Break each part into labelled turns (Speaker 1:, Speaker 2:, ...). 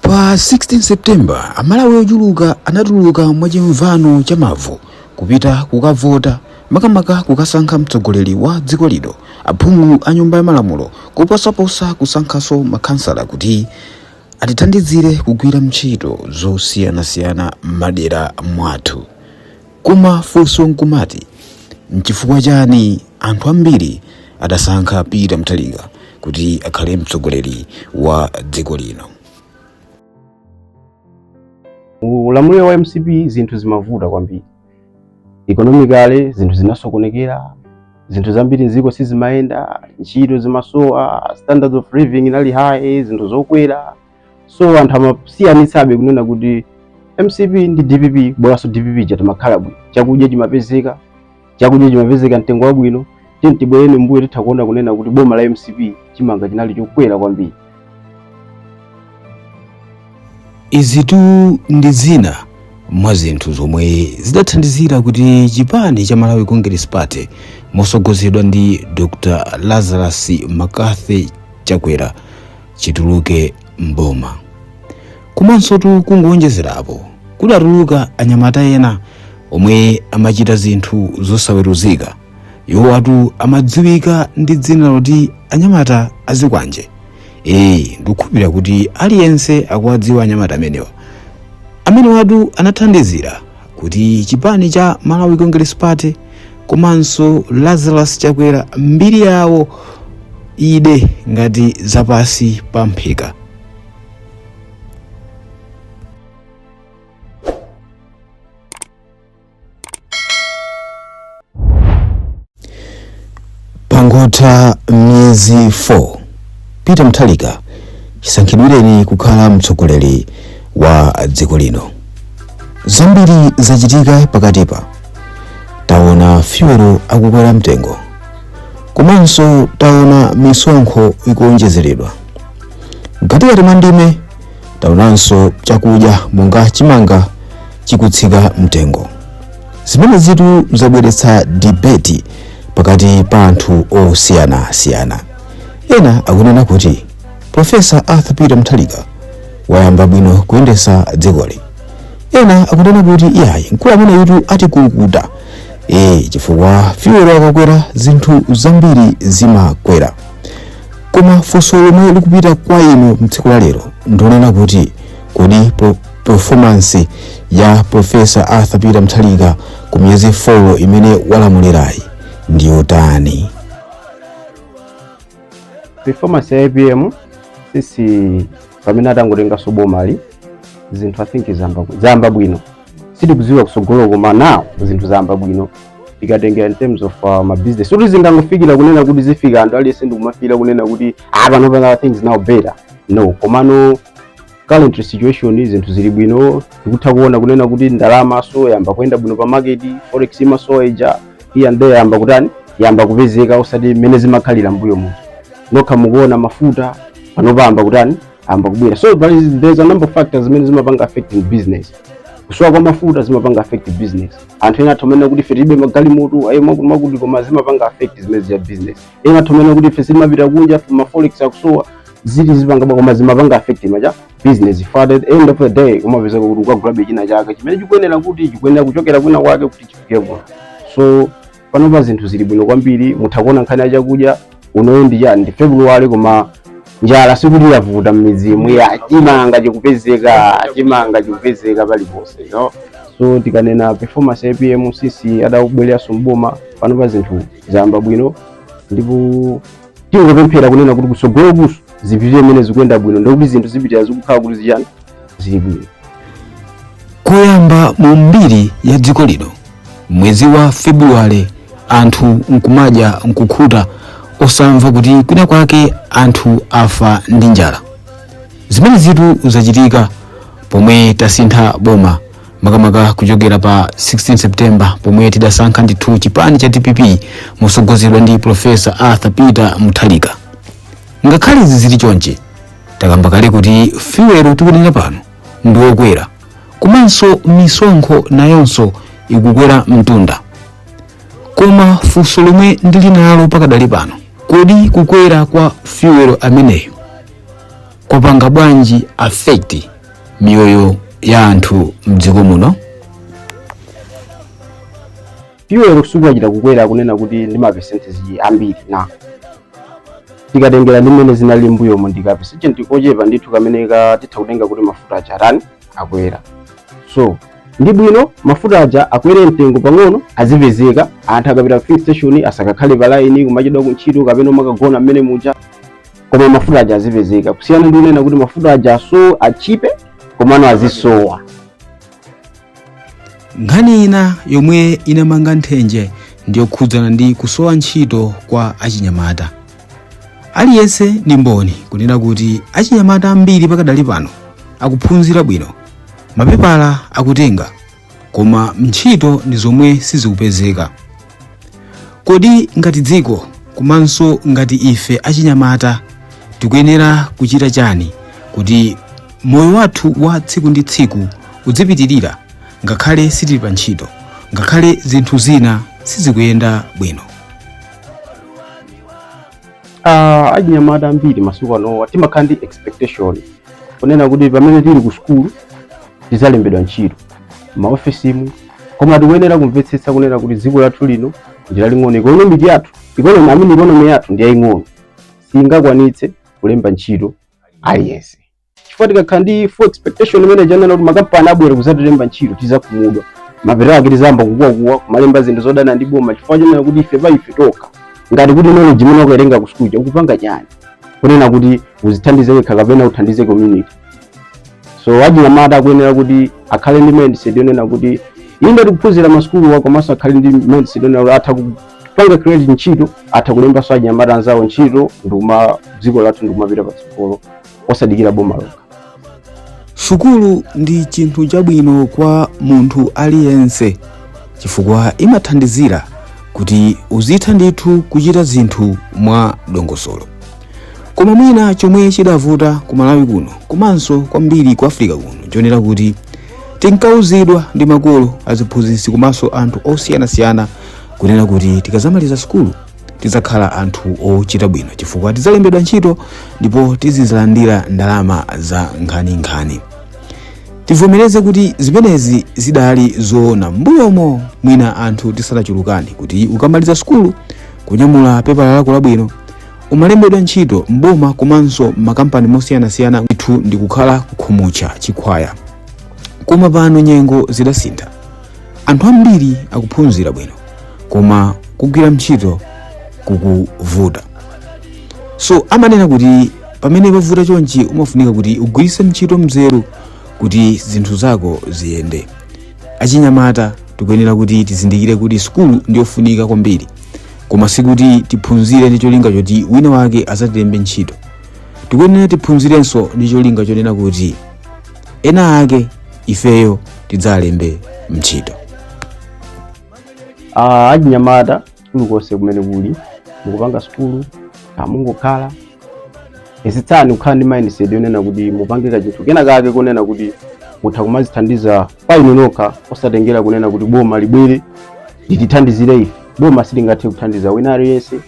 Speaker 1: Pa 16 September, Amalawi ochuluka anatuluka mwachimvano cha mavu kupita kukavota makamaka kukasankha mtsogoleri wa dziko lino aphungu a nyumba ya malamulo kuposaposa kusankhaso makhansala kuti atithandizire kugwira ntchito zosiyanasiyana m'madera mwathu. Koma funso nkumati nchifukwa chani anthu ambiri adasankha Peter Mutharika kuti akhale mtsogoleri wa dziko lino?
Speaker 2: Ulamuliro wa mcp zinthu zimavuta kwambiri, economically zinthu zinasokonekera, zinthu zambiri mziko sizimayenda, ntchito zimasowa, standards of living inali high, zinthu zokwera so anthu amasiyanitsabe kunena kuti mcp ndi dpp bolanso dpp chatimakhala bwino chakudya chimapezeka chakudya chimapezeka mtengo wabwino tiyeni tibwereni mbuyo titha kuona kunena kuti boma la mcp chimanga chinali chokwera kwambiri
Speaker 1: izitu ndi zina mwa zinthu zomwe zidathandizira kuti chipani cha malawi congress party motsogozedwa ndi dr lazarus mccarthy chakwera chituluke mboma komansotu kungowonjezerapo kudatuluka anyamata ena omwe amachita zinthu zosaweruzika iwowatu amadziwika ndi dzina loti anyamata azikwanje ee ndikukhulupirira kuti aliyense akuwadziwa anyamata amenewa amenewatu anathandizira kuti chipani cha Malawi Congress Party komanso Lazarus Chakwera mbiri yawo ide ngati zapansi pa mphika pangotha miyezi 4 peter mutharika chisankhidwireni kukhala mtsogoleri wa dziko lino zambiri zachitika pakatipa taona fuel akukwera mtengo komanso taona misonkho ikuonjezeredwa mkatikati mwa ndime taonanso chakudya monga chimanga chikutsika mtengo zimenezitu zabweretsa debate pakati pa anthu osiyanasiyana ena akunena kuti profesa arthur peter mutharika wayamba bwino kuyendesa dzikoli ena akunena kuti iyayi mkulu ameneyitu atikukuta e chifukwa fuel akakwera zinthu zambiri zimakwera koma funso lomwe likupita kwa inu mtsiku la lero ndonena kuti kodi po- performance ya Professor Arthur Peter Mutharika ku miyezi 4 imene walamulirayi ndi yotani?
Speaker 2: performance ya apm since pamene atangotenganso bomali zinthu i think zayamba zayamba bwino sitikudziwa kutsogolo koma now zinthu zayamba bwino tikatengera in terms of uh, ma business so zingangofikira kunena kuti zifika anthu aliyense ndikumafikira kunena kuti ah pano pano things now better no komano current situation zinthu zili bwino tikutha kuona kunena kuti ndalamanso yayamba kuyenda bwino pa market forex imasowa ija here and there yayamba kutani yayamba kupezeka osati mmene zimakhalira mbuyo muja nokha mukuona mafuta panopa ayamba kutani ayamba kubwera so there is, there is a number of factors zimene zimapanga affecting business kusowa kwa mafuta zimapanga affect business anthu ena atha kumanena kuti ife tilibe magalimoto ayo mwakuti mwakuti koma zimapanga affect zimenezija business ena atha kumanena kuti ife sitimapita kunja ma forex akusowa ziti zipanga koma zimapanga affect maja business for at the end of the day umapeza kuti ukagulabe china chake chimene chikuyenera kuti chikuyenera kuchokera kwina kwake kuti chifike kuno so panopa zinthu zili bwino kwambiri mutha kuona nkhani ya chakudya unoyu ndi chani ndi february koma njala sikuti yavuta mmidzimu eya chimanga chikupezeka chimanga chikupezeka paliponse no so tikanena performance ya apm since adabwereranso mboma panopa zinthu zayamba bwino ndipo tingopemphera kunena kuti kutsogolokunso zipitire mmene zikuyenda bwino ndikuti zinthu zipitire zikukhala kuti zichani zili bwino koyamba
Speaker 1: mu mbiri ya dziko lino mwezi wa februwale anthu nkumadya nkukhuta osamva kuti kwina kwake anthu afa ndi njala zimenezitu zachitika pomwe tasintha boma makamaka kuchokera pa 16 september pomwe tidasankha ndithu chipani cha dpp mosogozedwa ndi profesa arthur peter muthalika ngakhale izi zili chonchi takamba kale kuti fuel tikunena pano ndi wokwera komanso misonkho nayonso ikukwera mtunda koma funso lomwe ndili nalo pakadali pano kodi kukwera kwa fuel ameneyu kwapanga bwanji affect miyoyo ya anthu mdziko
Speaker 2: muno fuel sikuti achita kukwera kunena kuti ndi ma percentage ambiri na tikatengera ndi mmene zinali mbuyomu ndi ka percentage kochepa ndithu kamene ka titha kutenga kuti mafuta aja atani akwera so ndi bwino mafuta aja akwere mtengo pang'ono azipezeka anthu akapita ku filling station asakakhale pa line kumachedwa ku ntchito kapena umakagona mmene muja koma mafuta aja azipezeka kusiyana ndi kunena kuti mafuta aja azikhala otchipa komano
Speaker 1: azisowa nkhani ina yomwe inamanga nthenje ndiyokhudzana ndi kusowa ntchito kwa achinyamata aliyense ndi mboni kunena kuti achinyamata ambiri pakadali pano akuphunzira bwino mapepala akutenga koma ntchito ndi zomwe sizikupezeka kodi ngati dziko komanso ngati ife achinyamata tikuyenera kuchita chani kuti moyo wathu wa tsiku ndi tsiku udzipitirira ngakhale sitili pa ntchito ngakhale zinthu zina sizikuyenda bwino
Speaker 2: Ah, achinyamata ambiri masiku anowa timakhala ndi expectation kunena kuti pamene tili ku sukulu tizalembedwa ntchito maofesimu koma tikuyenera kumvetsetsa kunena kuti dziko lathu lino ndi laling'ono ikonomiki yathu I mean ikonomi yathu ndi yaying'ono singakwanitse kulemba ntchito aliyense chifukwa tikakhala ndi full expectation imene ija yonena kuti makampani abwera kuzatilemba ntchito tizakhumudwa mapeto ake tizayamba kukuwakuwa kumalemba zinthu zodana ndi boma chifukwa chonena kuti iwe pa iwe wekha ngati ndi knowledge imene wakatenga ku school ukupanga chani kunena kuti uzithandize wekha kapena uthandize community so achinyamata akuyenera kuti akhale ndi mindset yonena kuti inde tikuphunzira masukuluwa komanso akhale ndi mindset yonena kuti atha kupanga create ntchito atha kulembanso achinyamata anzawo ntchito ndikuma dziko lathu ndikumapita patsogolo osadikira boma lokha
Speaker 1: sukulu ndi chinthu chabwino kwa munthu aliyense chifukwa imathandizira kuti uzitha ndithu kuchita zinthu mwa dongosolo koma mwina chomwe chidavuta ku malawi kuno komanso kwambiri ku africa kuno chonena kuti tinkauzidwa ndi makolo aziphunzitsi komanso anthu osiyanasiyana kunena kuti tikazamaliza sukulu tidzakhala anthu ochita bwino chifukwa tidzalembedwa ntchito ndipo tizizalandira ndalama za nkhaninkhani tivomereze kuti zimenezi zidali zoona m'mbuyomo mwina anthu tisanachulukane kuti ukamaliza sukulu kunyamula pepala lako labwino umalembedwa ntchito m'boma komanso m'makampani mosiyanasiyana ndithu ndikukhala kukhumutcha chikhwaya koma pano nyengo zidasintha anthu ambiri akuphunzira bwino koma kugwira ntchito kukuvuta so amanena kuti pamene pavuta chonchi umafunika kuti ugwiritse ntchito mzeru kuti zinthu zako ziyende achinyamata tikuyenera kuti tizindikire kuti sukulu ndiyofunika kwambiri koma sikuti tiphunzire ndi cholinga choti wina wake azatilembe ntchito tikuyenera tiphunzirenso ndi cholinga chonena kuti ena ake ifeyo tidzalembe ntchito
Speaker 2: achinyamata kulikonse kumene kuli mukupanga sukulu mungokhala yesetsani kukhala ndi mindset yonena kuti mupange kachinthu kena kake konena kuti mutha kumazithandiza pa inu nokha osatengera kunena kuti boma libwere litithandizire ife boma silingathe kuthandiza wina aliyense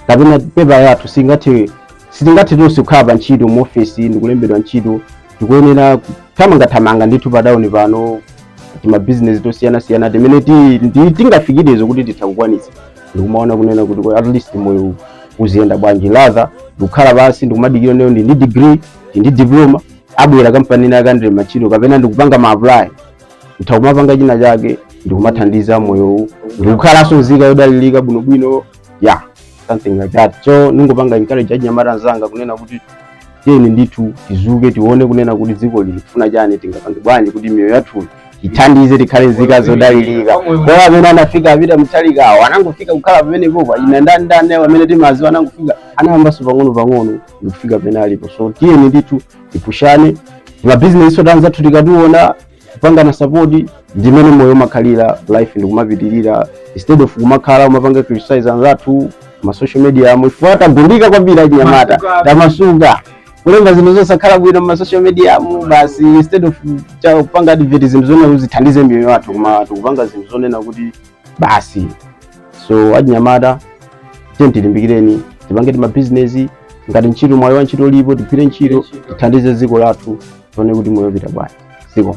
Speaker 2: kapena pepa yathu si- sitingathe tonse kukhala pa ntchito mu ofesi ndikulembedwa ntchito tikuyenera thamangathamanga ndithu pa tauni pano timabizinesi tosiyanasiyana timene tingafikirezo kuti titha kukwanitsa ndikumaona kunena kuti at least moyo uziyenda bwanji rather ndikukhala pansi ndikumadikira nayo ndi ndi degree ndi ndi diploma abwera kampani ina akandire machito kapena ndikupanga ma apply utha kumapanga china chake ndikumathandiza moyowu ndikukhalanso nzika yodalirika bwinobwino yeah something like that so ndingopanga encourage achinyamata anzanga kunena kuti tiyeni ndithu tizuke tione kunena kuti dziko lili kufuna chani tingapange bwanji kuti miyoyo yathu ithandize tikhale nzika zodalirika koma amene anafika apita mtalikawo anangofika kukhala pamenepopa ina ndani ndani amene timawaziwa sanangofika anayambanso pang'ono pang'ono ndikufika pene alipo so tiyeni ndithu tipushane mabizinesi oti anzathu tikationa kupangana sapoti ndimene moyo umakhalira life ndikumapitirira instead of kumakhala umapanga criticize anzathu ma social media umu ife tagundika kwambiri achinyamata tamasuka kulemba zinthu zosakhala bwino ma social media umu basi instead of kupanga advert zinthu zona uzithandize miyoyo yathu koma tikupanga zinthu zonena kuti basi so achinyamata tiyeni tilimbikireni tipange timabizinesi ngati ntchito mwayi wa ntchito ulipo tigwire ntchito tithandize dziko lathu tione kuti moyo upita bwanji ziko